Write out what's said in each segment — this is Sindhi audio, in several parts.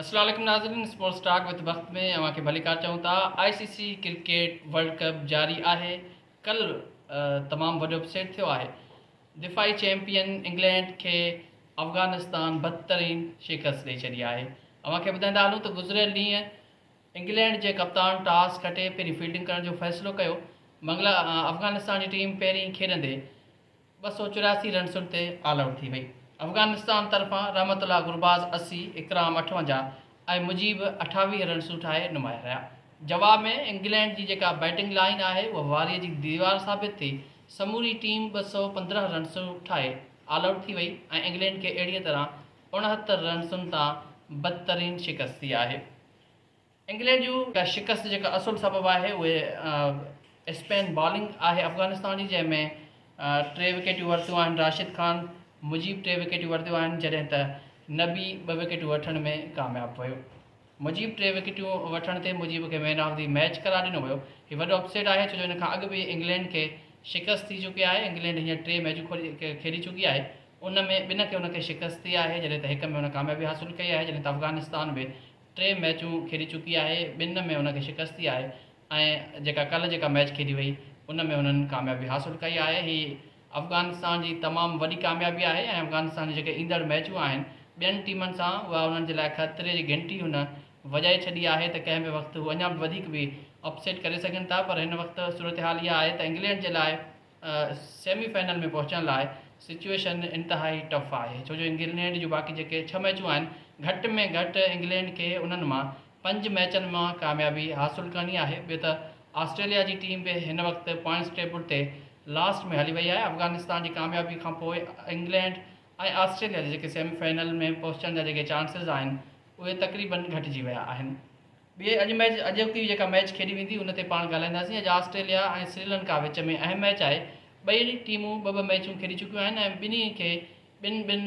السلام عليڪم ناظرين اسپورٽس ٽاڪ وٿ بخت ۾ اوهان کي ڀليڪار چئون ٿا I C C cricket world cup جاري آهي ڪل تمام وڏو اپسيٽ ٿيو آهي دفاعي چيمپيئن انگلينڊ کي افغانستان بدترين شڪست ڏئي ڇڏي آهي اوهان کي ٻڌائيندا هلون ته گذريل ڏينهن انگلينڊ جي ڪپتان ٽاس کٽي پهرين فيلڊنگ ڪرڻ جو فيصلو ڪيو منگل افغانستان جي ٽيم پهرين کيڏندي ٻه سؤ چورياسي رنسن تي آل آئوٽ ٿي وئي. افغانستان طرفان رحمت الله گرباز اسي، اڪرام اٺونجاهه ۽ مجيب اٺاويهه رنسون ٺاهي نمايان رهيا. جواب ۾ انگلينڊ جي جيڪا بيٽنگ لائين آهي اها واريء جي ديوار ثابت ٿي، سموري ٽيم ٻه سؤ پندرهن رنسون ٺاهي آل آئوٽ ٿي وئي ۽ انگلينڊ کي اهڙيء طرح اڻهتر رنسن تان بدترين شڪست ٿي آهي. انگلينڊ جي اها شڪست جيڪا اصل سبب آهي اهي اسپن بالنگ آهي افغانستان جي جنهن ۾ ٽي وڪيٽيون ورتيون آهن راشد خان مجيب ٽي وڪيٽيون ورتيون آهن جڏهن ته نبي ٻه وڪيٽون وٺڻ ۾ ڪامياب ويو مجيب ٽي وڪيٽيون وٺڻ تي مجيب کي مين آف دي ميچ قرار ڏنو ويو هي وڏو اپسيٽ آهي ڇو جو ان کان اڳ به انگلينڊ کي شڪست ٿي چڪي آهي انگلينڊ هينئر ٽي ميچون کيڏي چڪي آهي ان ۾ ٻنهن کي ان کي شڪست ٿي آهي جڏهن ته هڪ ۾ هن ڪاميابي حاصل ڪئي آهي جڏهن ته افغانستان به ٽي ميچون کيڏي چڪي آهي ٻن ۾ هن کي شڪست ٿي آهي ۽ جيڪا ڪلهه جيڪا ميچ کيڏي وئي ان ۾ هنن ڪاميابي حاصل ڪئي آهي هي افغانستان جي تمام وڏي ڪاميابي آهي ۽ افغانستان جون جيڪي ايندڙ ميچون آهن ٻين ٽيمن سان اها انهن جي لاء خطري جي گهنٽي هن وڄائي ڇڏي آهي ته ڪنهن به وقت هو اڃا به وڌيڪ به اپ سيٽ ڪري سگهن ٿا پر هن وقت صورتحال اها آهي ته انگلينڊ جي لاء سيمي فائنل ۾ پهچڻ لاء سچوئيشن انتهائي ٽف آهي ڇو جو انگلينڊ جون باقي جيڪي ڇهه ميچون آهن گهٽ ۾ گهٽ انگلينڊ کي انهن مان پنج ميچن مان ڪاميابي حاصل ڪرڻي آهي ٻيو ته آسٽريليا جي ٽيم به هن وقت پوائنٽس ٽيبل تي لاسٽ ۾ هلي وئي آهي افغانستان جي ڪاميابي کانپوء انگلينڊ ۽ آسٽريليا جي جيڪي سيمي فائنل ۾ پهچڻ جا جيڪي چانسز آهن اهي تقريبن گهٽجي ويا آهن. ٻئي اڄ ميچ اڄوڪي جيڪا ميچ کيڏي ويندي ان تي پاڻ ڳالهائينداسين اڄ آسٽريليا ۽ سريلنڪا وچ ۾ اهم ميچ آهي ٻئي ٽيمون ٻه ٻه ميچون کيڏي چڪيون آهن ۽ ٻنهي کي ٻن ٻن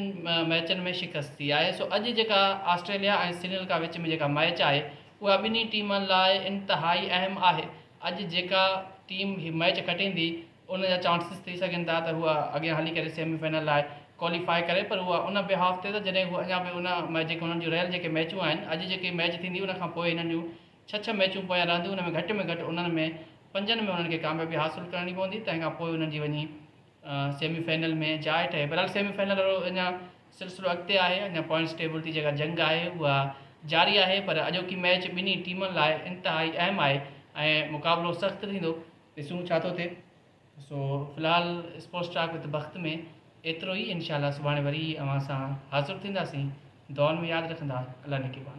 ميچن ۾ شڪست ٿي آهي سو اڄ جيڪا آسٽريليا ۽ سريلنڪا وچ ۾ جيڪا ميچ آهي اها ٻنهي ٽيمن لاء انتهائي اهم آهي اڄ جيڪا ٽيم هي ميچ کٽيندي ان جا چانسز ٿي سگهن ٿا ته هوء اڳيان هلي ڪري سيمي فائنل لاء ڪواليفاء ڪري پر هوء ان بهاف تي ته جڏهن هوء اڃا به ان ۾ جيڪي هنن جون رهيل جيڪي ميچون آهن اڄ جيڪي ميچ ٿيندي ان کان پوء هنن جون ڇهه ڇهه ميچون پويان رهنديون ان ۾ گهٽ ۾ گهٽ انهن ۾ پنجن ۾ هنن کي ڪاميابي حاصل ڪرڻي پوندي تنهن کان پوء هنن جي وڃي سيمي فائنل ۾ جاء ٺهي بهرحال سيمي فائنل وارو اڃا سلسلو اڳتي آهي اڃا پوائنٽس ٽيبل جي جيڪا جنگ آهي اها جاري آهي پر اڄوڪي ميچ ٻنهي ٽيمن لاء انتهائي اهم آهي ۽ مقابلو سخت ٿيندو ڏسون ڇا ٿو ٿئي سو في الحال اسپورٽس ٽاڪ وٿ بخت ۾ ايترو ئي انشاء الله سڀاڻي وري اوهان سان حاضر ٿينداسين دعائن ۾ ياد رکندا الله نگهبان.